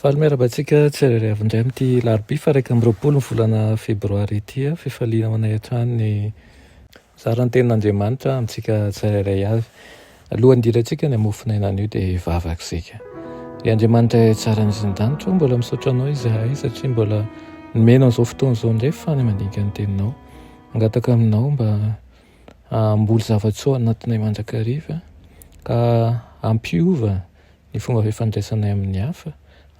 Faly miarahaba antsika tsirairay avy indray amin'ity larobia fa iraika amby roapolo ny volana febroary ity. Fifaliana ho anay hatrany ny mizara ny tenin'Andriamanitra amintsika tsirairay avy. Alohan'ny hidirantsika ny hamofon'aina anio dia hivavaka isika. Ry Andriamanitra Ray tsara nisy ny danitra, mbola misaotra anao izahay satria mbola nomena an'izao fotoana izao indray fa ny mandinika ny teninao. Mangataka aminao mba hamboly zava-tsoa anatinay mandrakariva ka hampiova ny fomba fifandraisanay amin'ny hafa,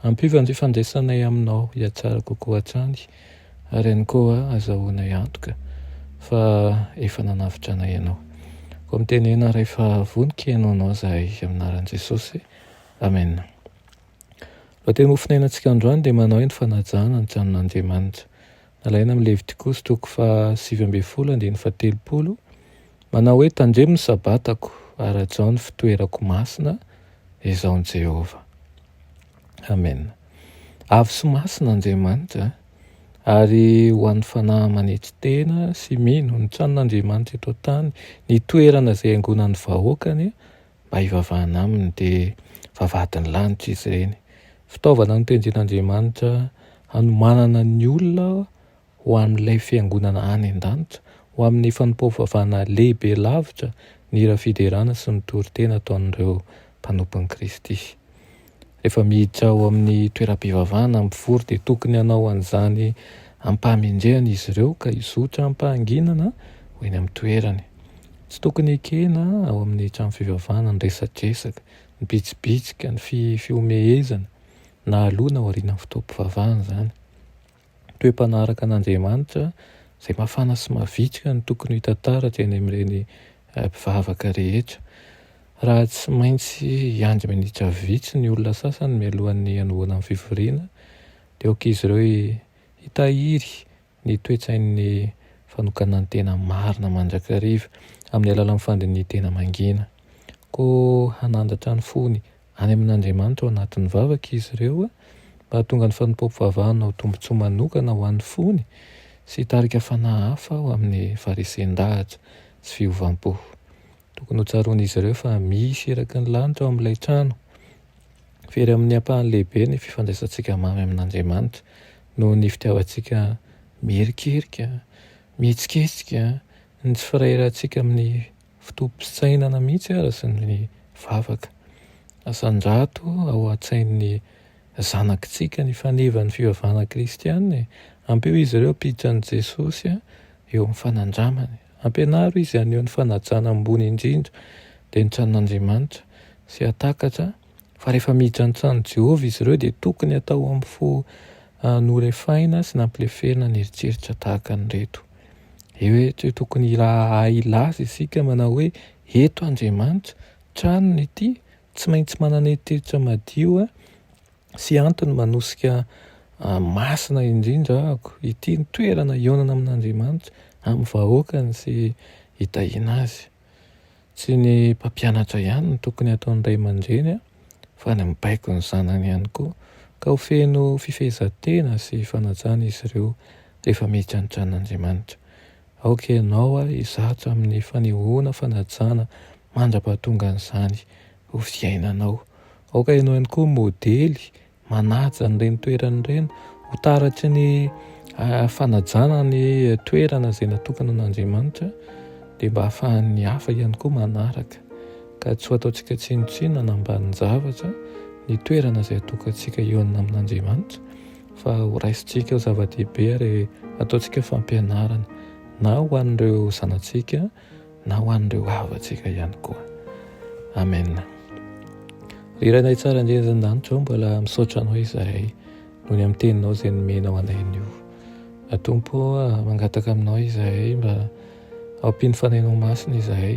ampio amin'ny fifandraisanay aminao hihatsara kokoa hatrany, ary ihany koa azahoanay antoka fa efa nanavotra anay ianao. Koa mitenena rehefa vonoky hihaino anao izahay, amin'ny anaran'i Jesosy, amena. Lohateny hofonainantsika androany dia manao hoe ny fanajana ny tranon'Andriamanitra. nalaina amin'ny Levitikosy toko fahasivy ambin'ny folo andininy fahatelopolo, manao hoe, Tandremo ny Sabatako, ary hajao ny fitoerako masina, izao ny Jehovah. Amena. Avo sy masina Andriamanitra, ary ho an'ny fanahy manetry tena sy mino, ny tranon'Andriamanitra eto an-tany, ny toerana izay iangonan'ny vahoakany, mba hivavahana aminy dia vavahadin'ny lanitra izy ireny. Fitaovana notenjen'Andriamanitra hanomanana ny olona ho amin'ilay fiangonana any an-danitra, ho amin'ny fanompoam-pivavahana lehibe lavitra ny hira fiderana sy ny toriteny ataon'ireo mpanompon'i Kristy. Rehefa miditra ao amin'ny toeram-pivavahana mpivory dia tokony hanao an'izany am-pahamendrehana izy ireo ka hizotra am-pahanginana ho eny amin'ny toerany. Tsy tokony hekena ao amin'ny trano fivavahana ny resadresaka, ny bitsibitsika, ny fihomehezana, na aloha na aorianan'ny fotoam-pivavahana izany. toe mpanaraka an'Andriamanitra izay mafana sy mavitrika no tokony ho hita taratra eny amin'ireny mpivavaka rehetra. Raha tsy maintsy hiandry minitra vitsy ny olona sasany mialohan'ny hanomboana ny fivoriana, dia aok'izy ireo hitahiry ny toe-tsain'ny fanokanan-tena marina mandrakariva amin'ny alalan'ny fandinihan-tena mangina. Koa hanandratra ny fony Any amin'Andriamanitra ao anatin'ny vavaka izy ireo mba hahatonga ny fanompoam-pivavahana ho tombontsoa manokana ho an'ny fony sy hitarika fanahy hafa ho amin'ny faharisin-dahatra sy fiovam-po. Tokony hotsaroan'izy ireo fa misy iraky ny lanitra ao amin'ilay trano. Very amin'ny ampahany lehibe ny fifandraisantsika mamy amin'Andriamanitra noho ny fitiavantsika miherikerika, mihetsiketsika, ny tsy firaharahantsika amin'ny Fitopim-pisainana mihitsy aza ny vavaka. Asandrato ao an-tsain'ny zanakitsika ny faneva ny fivavahana kristiana e! Ampio izy ireo hampiditra an'i Jesosy eo amin'ny fanandramany. Ampianaro izy haneho ny fanajana ambony indrindra dia ny tranon'Andriamanitra sy hahatakatra Fa rehefa miditra ny tranon'i Jehovah izy ireo, dia tokony hatao amin'ny fo norefaina sy nampileferina ny eritreritra tahaka an'ireto. Ehe, tsy tokony hahay hilaza isika manao hoe, Eto Andriamanitra, tranony ity, tsy maintsy manana eritreritra madio sy antony manosika masina indrindra ahako. Ity ny toerana ionana amin'Andriamanitra, amin'ny vahoakany sy hitahiana azy. Tsy ny mpampianatra ihany no tokony hataon'ny ray aman-dreny fa ny mibaiko ny zanany ihany koa ka ho feno fifehezan-tena sy fanajana izy ireo rehefa miditra ny tranon'Andriamanitra. Aoka ianao ary hizatra amin'ny fanehoana fanajana mandra-pahatongan'izany ho fiainanao. Aoka ianao ihany koa ho modely manaja an'ireny toerana ireny ho taratry ny ah, fanajana ny toerana izay natokana an'Andriamanitra dia mba hahafahan'ny hafa ihany koa manaraka ka tsy ho ataontsika tsinontsinona na ambanin-javatra ny toerana izay atokantsika eo amin'Andriamanitra fa ho raisintsika ho zava-dehibe ary ataontsika fampianarana na ho an'ireo zanatsika na ho an'ireo havantsika ihany koa. Amen. Ry Rainay tsara indrindra izany danitra ao, mbola misaotra anao izahay noho ny amin'ny teninao izay nomenao anay anio. Atompo mangataka aminao izahay mba ampino fanainao masina izahay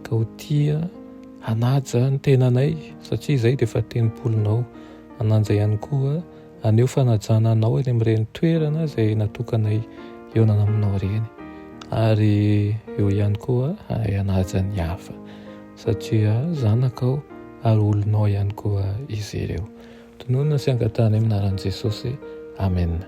ka ho tia hanaja ny tenanay satria izay dia efa tempolinao hananja ihany koa Haneho fanajana anao eny amin'ireny toerana izay natokanay hionana aminao ireny, ary eo ihany koa hahay hanaja ny hafa, satria zanakao ary olonao ihany koa izy ireo. Tononina sy angatahana amin'ny anaran'i Jesosy. Amena.